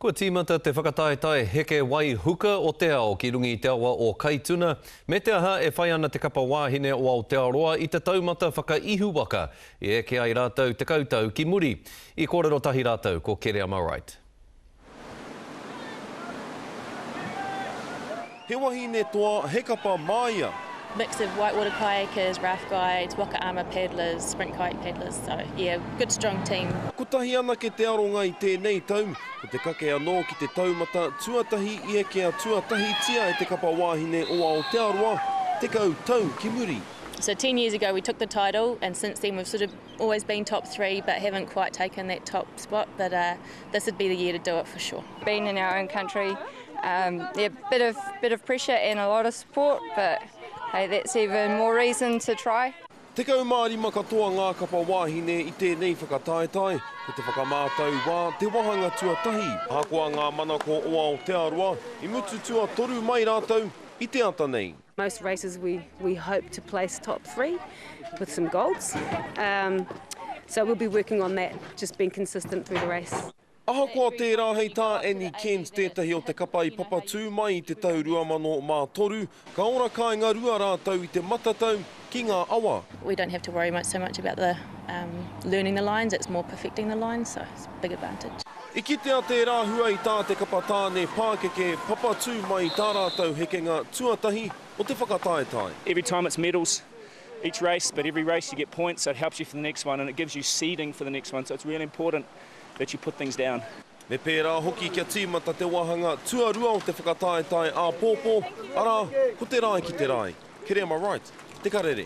Kua tīmata te whakataetae heke wai huka o te ao ki runga i te awa o Kaituna, me te aha e whai ana te kapa wāhine o Aotearoa i te taumata whakaihuwaka i eke ai rātou tekau tau ki muri. I kōrero tahi rātou ko Kereama Wright. He wahine toa, he kapa māia. Mix of white water kayakers, raft guides, waka ama paddlers, sprint kayak paddlers, so yeah, good strong team. Kotahi anake te aronga i tēnei tau, ko te kake anō ki te taumata tuatahi i ekea tuatahitia e te kapa wāhine o Aotearoa, tekau tau ki muri. So ten years ago we took the title and since then we've sort of Always been top three but haven't quite taken that top spot but uh, this would be the year to do it for sure. Being in our own country, um, yeah, bit of, bit of pressure and a lot of support but hey, that's even more reason to try. Tekau mā rima katoa ngā kapa wāhine i tēnei whakataetae, ko te whakamātau wā te wāhanga tuatahi. Ahakoa ngā manako o Aotearoa, i mutu tuatoru mai rātou i te ata nei. Most races we we hope to place top three with some golds. Um, so we'll be working on that, just being consistent through the race. Ahakoa tērā hei tā Annie Kent tētahi o te kapa i papatū mai i te tau 2003, ka ora kāinga rua rātou i te matatau ki ngā awa. We don't have to worry much so much about the um learning the lines, it's more perfecting the lines, so it's a big advantage. I kitea tērā hua i tā te kapa tāne pākeke papatū mai i tā rātou hekenga tuatahi o te whakataetae. Every time it's medals each race but every race you get points so it helps you for the next one and it gives you seeding for the next one so it's really important that you put things down. Me pērā hoki kia tīmata te wāhanga tuarua o te whakataetae āpōpō, arā, ko te rae ki te rae, kerema right, te karere.